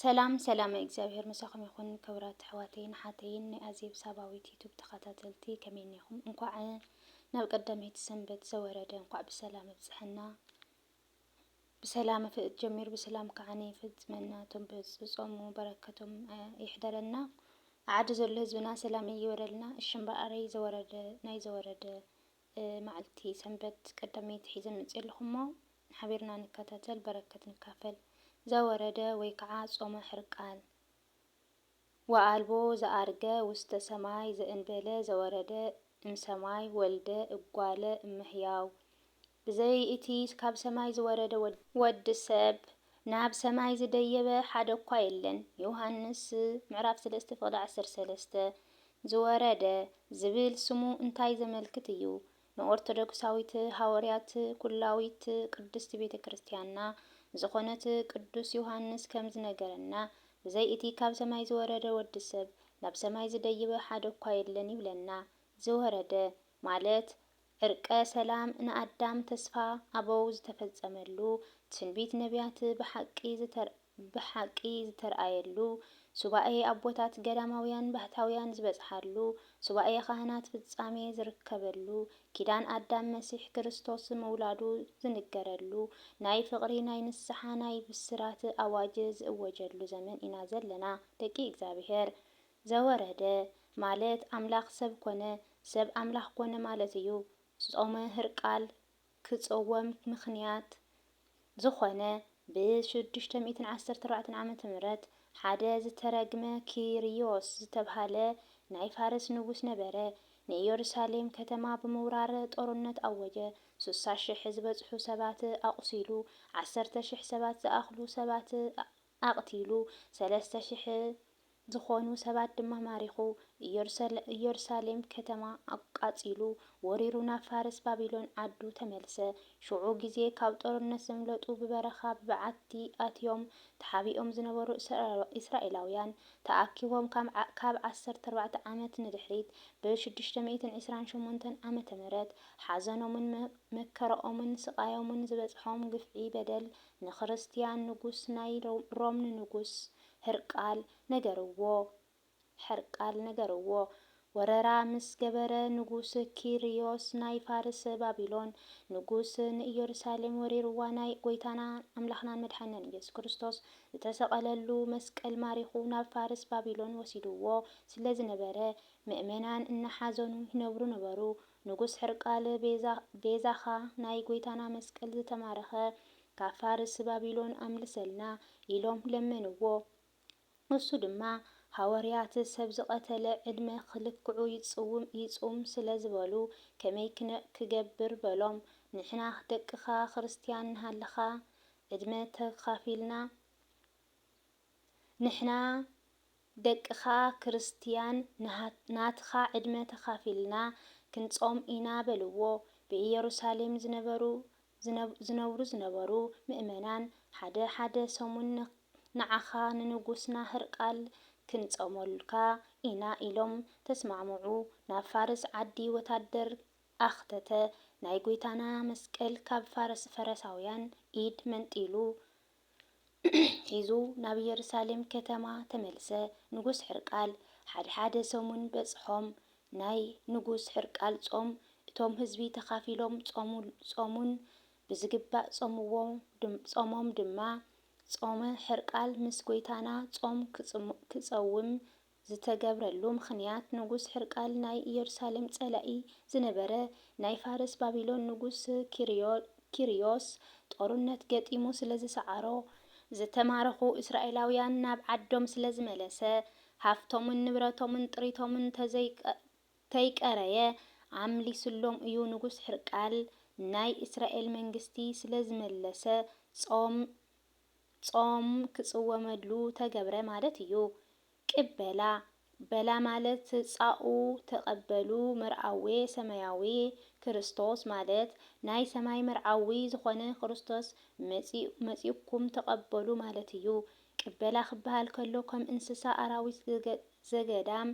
ሰላም ሰላመ እግዚኣብሔር ምሳኹም ይኹን ክብራት ኣሕዋተይን ኣሓተይን ናይ ኣዜብ ሳባዊት ዩቱብ ተኸታተልቲ ከመይ እኒኹም እንኳዕ ናብ ቀዳመይቲ ሰንበት ዘወረደ እንኳዕ ብሰላም ኣብፀሐና ብሰላም ጀሚሩ ብሰላም ከዓነ ይፈፅመና እቶም ብዝፆሙ በረከቶም ይሕደረና ኣዓዲ ዘሎ ህዝብና ሰላም ይበረልና እሽምበኣረይ ዘወረደ ናይ ዘወረደ መዓልቲ ሰንበት ቀዳመይቲ ሒዘ መጺኤ ኣለኹ እሞ ሓቢርና ንከታተል በረከት ንካፈል ዘወረደ ወይ ከዓ ጾመ ሕርቃን ወኣልቦ ዘኣርገ ውስተ ሰማይ ዘእንበለ ዘወረደ እምሰማይ ወልደ እጓለ እመሕያው ብዘይ እቲ ካብ ሰማይ ዝወረደ ወዲ ሰብ ናብ ሰማይ ዝደየበ ሓደ እኳ የለን ዮሃንስ ምዕራፍ ሰለስተ ፍቅዲ ዓሰርተ ሰለስተ ዝወረደ ዝብል ስሙ እንታይ ዘመልክት እዩ? ንኦርቶዶክሳዊት ሃወርያት ኩላዊት ቅድስት ቤተ ክርስቲያንና ዝኾነት ቅዱስ ዮሃንስ ከም ዝነገረና ብዘይ እቲ ካብ ሰማይ ዝወረደ ወዲ ሰብ ናብ ሰማይ ዝደይበ ሓደ እኳ የለን ይብለና። ዝወረደ ማለት ዕርቀ ሰላም ንኣዳም ተስፋ ኣበው ዝተፈጸመሉ፣ ትንቢት ነብያት ብሓቂ ብሓቂ ዝተርኣየሉ፣ ሱባኤ ኣቦታት ገዳማውያን ባህታውያን ዝበጽሓሉ፣ ሱባኤ ካህናት ፍጻሜ ዝርከበሉ፣ ኪዳን ኣዳም መሲሕ ክርስቶስ ምውላዱ ዝንገረሉ፣ ናይ ፍቕሪ ናይ ንስሓ ናይ ብስራት ኣዋጅ ዝእወጀሉ ዘመን ኢና ዘለና ደቂ እግዚኣብሔር። ዘወረደ ማለት ኣምላኽ ሰብ ኮነ፣ ሰብ ኣምላኽ ኮነ ማለት እዩ። ጾመ ህርቃል ክጽወም ምኽንያት ዝኾነ ብ ሽዱሽተ ሚእትን ዓሰርተ ኣርባዕተን ዓመተ ምህረት ሓደ ዝተረግመ ኪርዮስ ዝተብሃለ ናይ ፋርስ ንጉስ ነበረ። ንኢየሩሳሌም ከተማ ብምውራር ጦርነት ኣወጀ። ሱሳ ሽሕ ዝበጽሑ ሰባት ኣቑሲሉ፣ ዓሰርተ ሽሕ ሰባት ዝኣኽሉ ሰባት ኣቕቲሉ፣ ሰለስተ ሽሕ ዝዀኑ ሰባት ድማ ማሪኹ፣ ኢየሩሳሌም ከተማ ኣቓጺሉ፣ ወሪሩ ናብ ፋርስ፣ ባቢሎን፣ ዓዱ ተመልሰ። ሽዑ ግዜ ካብ ጦርነት ዘምለጡ ብበረኻ ብበዓቲ ኣትዮም ተሓቢኦም ዝነበሩ እስራኤላውያን ተኣኪቦም ካብ ዓሰርተ ኣርባዕተ ዓመት ንድሕሪት ብ ሽዱሽተ ሚእትን ዕስራን ሸሞንተን ዓመተ ምህረት ሓዘኖምን መከራኦምን ስቓዮምን ዝበጽሖም ግፍዒ በደል ንክርስትያን ንጉስ ናይ ሮም ንንጉስ ህርቃል ነገርዎ ሕርቃል ነገርዎ ወረራ ምስ ገበረ ንጉስ ኪርዮስ ናይ ፋርስ ባቢሎን ንጉስ ንኢዮርሳሌም ወሪርዋ ናይ ጎይታና ኣምላክናን መድሓኒናን ኢየሱስ ክርስቶስ ዝተሰቀለሉ መስቀል ማሪኩ ናብ ፋርስ ባቢሎን ወሲድዎ ስለ ዝነበረ ምእመናን እናሓዘኑ ይነብሩ ነበሩ ንጉስ ሕርቃል ቤዛኻ ናይ ጐይታና መስቀል ዝተማረኸ ካብ ፋርስ ባቢሎን ኣምልሰልና ኢሎም ለመንዎ። እሱ ድማ ሃወርያት ሰብ ዝቐተለ ዕድመ ክልክዑ ይጽውም ይጹም ስለ ዝበሉ ከመይ ክገብር በሎም ንሕና ደቅኻ ክርስትያን ንሃለኻ ዕድመ ተካፊልና ንሕና ደቅኻ ክርስትያን ናትኻ ዕድመ ተኻፊልና ክንጾም ኢና በልዎ። ብኢየሩሳሌም ዝነበሩ ዝነብሩ ዝነበሩ ምእመናን ሓደ ሓደ ሰሙን ንዓኻ ንንጉስና ህርቃል ክንጾመልካ ኢና ኢሎም ተስማዕምዑ። ናብ ፋርስ ዓዲ ወታደር ኣኽተተ ናይ ጎይታና መስቀል ካብ ፈረሳውያን ኢድ መንጢሉ ሒዙ ናብ ኢየሩሳሌም ከተማ ተመልሰ። ንጉስ ሕርቃል ሓደ ሓደ ሰሙን በጽሖም። ናይ ንጉስ ሕርቃል ጾም እቶም ህዝቢ ተኻፊሎም ጾሙን ብዝግባእ ጾምዎ ጾሞም ድማ ጾመ ሕርቃል ምስ ጎይታና ጾም ክጸውም ዝተገብረሉ ምኽንያት ንጉስ ሕርቃል ናይ ኢየሩሳሌም ጸላኢ ዝነበረ ናይ ፋርስ ባቢሎን ንጉስ ኪርዮስ ጦርነት ገጢሙ ስለ ዝሰዓሮ፣ ዝተማረኹ እስራኤላውያን ናብ ዓዶም ስለ ዝመለሰ፣ ሃፍቶምን ንብረቶምን ጥሪቶምን ተይቀረየ ኣምሊሱሎም እዩ ንጉስ ሕርቃል ናይ እስራኤል መንግስቲ ስለ ዝመለሰ ጾም ክጽወመሉ ተገብረ ማለት እዩ። ቅበላ፣ በላ ማለት ትጻኡ፣ ተቐበሉ፣ መርዓዌ ሰማያዊ ክርስቶስ ማለት ናይ ሰማይ መርዓዊ ዝኾነ ክርስቶስ መጺኡኩም ተቐበሉ ማለት እዩ። ቅበላ ክበሃል ከሎ ከም እንስሳ ኣራዊት ዘገዳም፣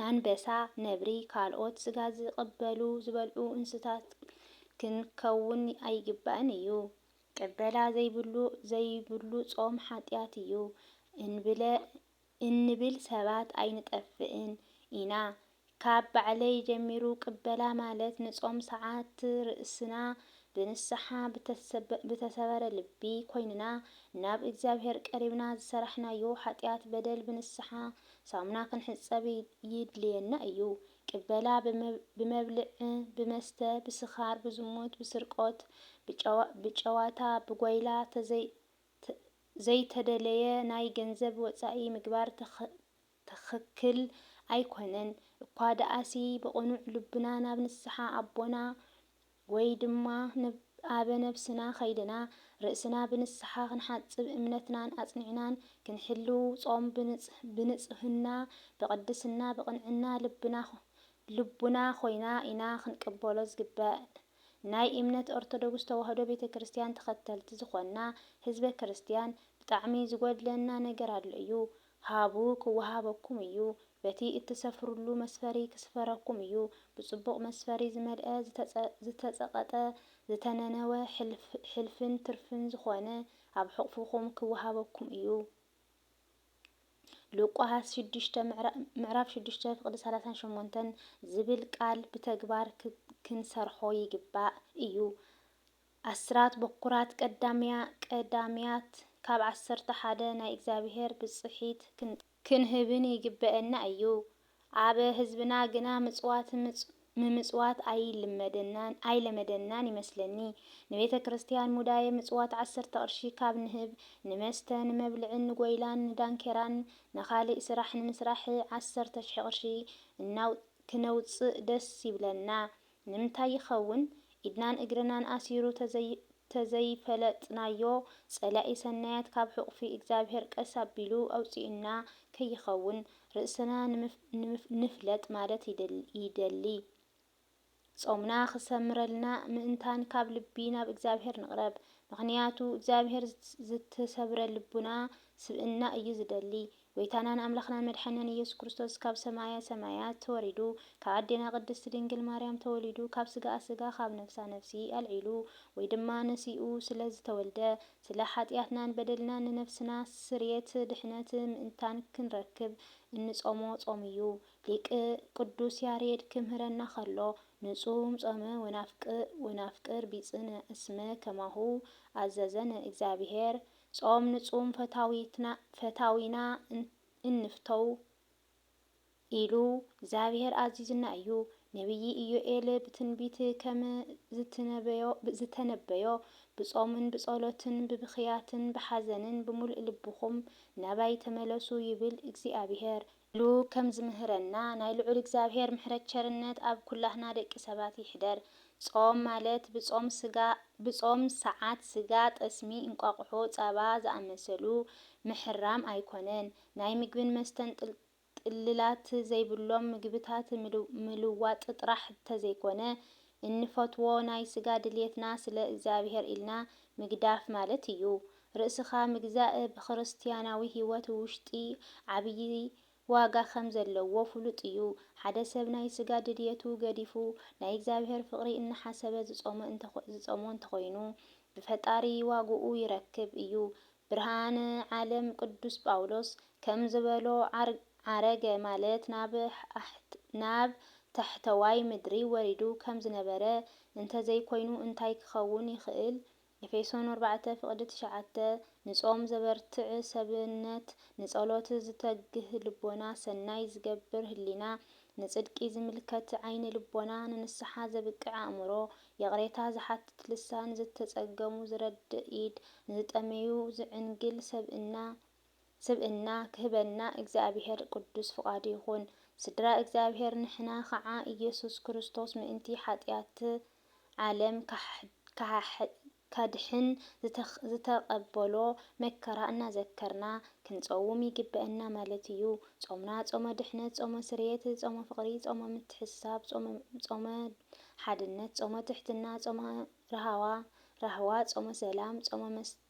ኣንበሳ፣ ነብሪ፣ ካልኦት ስጋ ዝቕበሉ ዝበልዑ እንስሳታት ክንከውን ኣይግባእን እዩ። ቅበላ ዘይብሉ ዘይብሉ ጾም ሓጥያት እዩ እንብለ እንብል ሰባት ኣይንጠፍእን ኢና ካብ ባዕለይ ጀሚሩ ቅበላ ማለት ንጾም ሰዓት ርእስና ብንስሓ ብተሰበረ ልቢ ኮይንና ናብ እግዚኣብሔር ቀሪብና ዝሰራሕናዮ ሓጥያት በደል ብንስሓ ሳሙና ክንሕጸብ ይድልየና እዩ ቅበላ ብመብልዕ ብመስተ ብስኻር ብዝሙት ብስርቆት ብጨዋታ ብጎይላ ዘይተደለየ ናይ ገንዘብ ወፃኢ ምግባር ትኽክል ኣይኮነን እኳ ደኣሲ ብቅኑዕ ልቡና ናብ ንስሓ ኣቦና ወይ ድማ ንኣበ ነብስና ከይድና ርእስና ብንስሓ ክንሓጽብ እምነትናን ኣጽኒዕናን ክንሕልው ጾም ብንጽህና ብቅድስና ብቅንዕና ልቡና ኮይና ኢና ክንቅበሎ ዝግባእ ናይ እምነት ኦርቶዶጉስ ተዋህዶ ቤተ ክርስትያን ተከተልቲ ዝኮና ህዝበ ክርስትያን ብጣዕሚ ዝጎድለና ነገር ኣሎ እዩ ሃቡ ክወሃበኩም እዩ፣ በቲ እትሰፍርሉ መስፈሪ ክስፈረኩም እዩ፣ ብጽቡቕ መስፈሪ ዝመልአ፣ ዝተጸቐጠ፣ ዝተነነወ፣ ሕልፍን ትርፍን ዝኾነ ኣብ ሕቑፍኹም ክወሃበኩም እዩ። ሉቃስ ሽዱሽተ ምዕራፍ ሽዱሽተ ፍቕዲ ሰላሳን ሸሞንተን ዝብል ቃል ብተግባር ክንሰርሖ ይግባእ እዩ። ኣስራት በኩራት ቀዳምያት ካብ ዓሰርተ ሓደ ናይ እግዚኣብሔር ብፅሒት ክንህብን ይግበእና እዩ። ኣብ ህዝብና ግና ምፅዋት ምምፅዋት ኣይለመደናን ይመስለኒ። ንቤተ ክርስቲያን ሙዳየ ምፅዋት ዓሰርተ ቅርሺ ካብ ንህብ ንመስተ ንመብልዕን ንጎይላን ንዳንኬራን ንካሊእ ስራሕ ንምስራሕ ዓሰርተ ሽሕ ቅርሺ ክነውፅእ ደስ ይብለና። ንምንታይ ይኸውን ኢድናን እግርናን ኣሲሩ ተዘይፈለጥናዮ ጸላኢ ሰናያት ካብ ሕቑፊ እግዚኣብሔር ቀስ ኣቢሉ ኣውጺኡና ከይኸውን ርእስና ንፍለጥ ማለት ይደሊ ጾምና ክሰምረልና ምእንታን ካብ ልቢ ናብ እግዚኣብሔር ንቕረብ ምኽንያቱ እግዚኣብሔር ዝተሰብረ ልቡና ስብእና እዩ ዝደሊ ጎይታናን ኣምላኽናን መድሓኒናን ኢየሱስ ክርስቶስ ካብ ሰማየ ሰማያት ወሪዱ ካብ ኣዴና ቅድስት ድንግል ማርያም ተወሊዱ ካብ ስጋኣ ስጋ ካብ ነፍሳ ነፍሲ ኣልዒሉ ወይ ድማ ነሲኡ ስለ ዝተወልደ ስለ ሓጥያትናን በደልናን ንነፍስና ስርየት ድሕነት ምእንታን ክንረክብ እንጾሞ ጾም እዩ ሊቅ ቅዱስ ያሬድ ክምህረና ከሎ ንጹም ጾመ ወናፍቅር ቢጽን እስመ ከማሁ ኣዘዘነ እግዚኣብሔር ጾም ንጹም ፈታዊና እንፍተው ኢሉ እግዚኣብሔር ኣዚዙና እዩ። ነቢዪ ኢዮኤል ብትንቢት ከም ዝተነበዮ ብጾምን ብጸሎትን ብብኽያትን ብሓዘንን ብምሉእ ልብኹም ናባይ ተመለሱ ይብል እግዚኣብሔር። ኢሉ ከም ዝምህረና ናይ ልዑል እግዚኣብሔር ምሕረት ቸርነት ኣብ ኩላህና ደቂ ሰባት ይሕደር። ጾም ማለት ብጾም ስጋ ብጾም ሰዓት ስጋ ጠስሚ እንቋቁሖ ጸባ ዝኣመሰሉ ምሕራም ኣይኮነን ናይ ምግብን መስተን ጥልላት ዘይብሎም ምግብታት ምልዋጥ ጥራሕ ተዘይኮነ እንፈትዎ ናይ ስጋ ድልየትና ስለ እግዚኣብሔር ኢልና ምግዳፍ ማለት እዩ ርእስኻ ምግዛእ ብክርስትያናዊ ህይወት ውሽጢ ዓብዪ ዋጋ ኸም ዘለዎ ፍሉጥ እዩ። ሓደ ሰብ ናይ ስጋ ድልየቱ ገዲፉ ናይ እግዚኣብሄር ፍቕሪ እናሓሰበ ዝጾሞ እንተ ኾይኑ ብፈጣሪ ዋግኡ ይረክብ እዩ። ብርሃን ዓለም ቅዱስ ጳውሎስ ከም ዝበሎ ዓረገ ማለት ናብ ታሕተዋይ ምድሪ ወሪዱ ከም ዝነበረ እንተ ዘይኮይኑ እንታይ ክኸውን ይኽእል ኤፌሶን ኣርባዕተ ፍቕዲ ትሽዓተ ንጾም ዘበርትዕ ሰብነት፣ ንጸሎት ዝተግህ ልቦና፣ ሰናይ ዝገብር ህሊና፣ ንጽድቂ ዝምልከት ዓይኒ ልቦና፣ ንንስሓ ዘብቅዕ ኣእምሮ፣ ይቕሬታ ዝሓትት ልሳን፣ ዝተጸገሙ ዝረድእ ኢድ፣ ንዝጠመዩ ዝዕንግል ሰብእና፣ ስብእና ክህበና እግዚኣብሔር ቅዱስ ፍቃዱ ይኹን ስድራ እግዚኣብሔር ንሕና ኸዓ ኢየሱስ ክርስቶስ ምእንቲ ሓጥያት ዓለም ከድሕን ዝተቀበሎ መከራ እናዘከርና ክንፀውም ይግበእና ማለት እዩ ፆምና ፆመ ድሕነት ፆመ ስርየት ፆመ ፍቅሪ ፆመ ምትሕስሳብ ፆመ ሓድነት ፆመ ትሕትና ፆመ ራህዋ ፆመ ሰላም ፆመ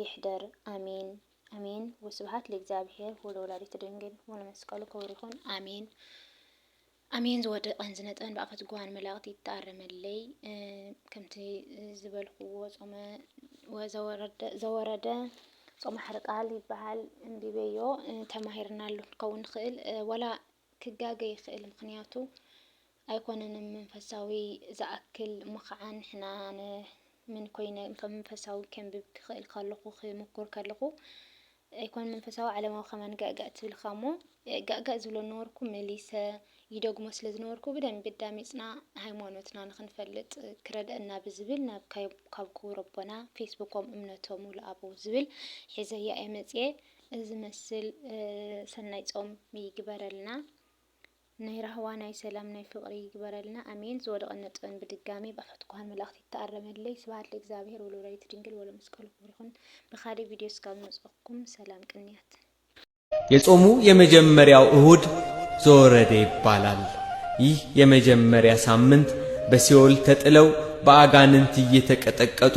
ይሕደር ኣሜን ኣሜን ወስብሃት ለእግዚኣብሔር ወለወላዲቱ ድንግል ወለመስቀሉ ክቡር ይኹን ኣሜን ኣሜን ዝወደቀን ዝነጠን ብኣፈ ዝጓን መላእክት ይተኣረመለይ ከምቲ ዝበልክዎ ጾመ ዘወረደ ጾመ ሕርቃል ይበሃል እንዲበዮ ተማሂርናሉ ክኸውን ንኽእል ዋላ ክጋገ ይክእል ምክንያቱ ኣይኮነን መንፈሳዊ ዝኣክል ምክዓ ንሕና ኣነ ምን ኮይነ መንፈሳዊ ከንብብ ክክእል ከለኩ ክሙኩር ከለኩ ኣይኮን መንፈሳዊ ዓለማዊ ከማን ጋእጋእ ትብልካ እሞ ጋእጋእ ዝብሎ ነበርኩ መሊሰ ይደግሞ ስለ ዝነበርኩ ብደንቢ ኣዳሚጽና ሃይማኖትና ንክንፈልጥ ክረድኣና ብዝብል ናብ ካብ ክቡር ኣቦና ፌስቡኮም እምነቶሙ ልኣበው ዝብል ሒዘያ እየ መጽየ ዝመስል ሰናይ ጾም ይግበረልና ናይ ራህዋ ናይ ሰላም ናይ ፍቅሪ ይግበረልና ኣሜን ዝወደቀ ነጥበን ብድጋሜ ብኣፈት ኳን መላእክት ይተኣረመለይ ስብሃት ለእግዚኣብሔር ወለወላዲቱ ድንግል ወለመስቀሉ ክቡር ይኹን ብካልእ ቪድዮ እስካብ ዝመጽኣኩም ሰላም ቅንያት የጾሙ የመጀመሪያው እሁድ ዘወረደ ይባላል ይህ የመጀመሪያ ሳምንት በሲኦል ተጥለው በአጋንንት እየተቀጠቀጡ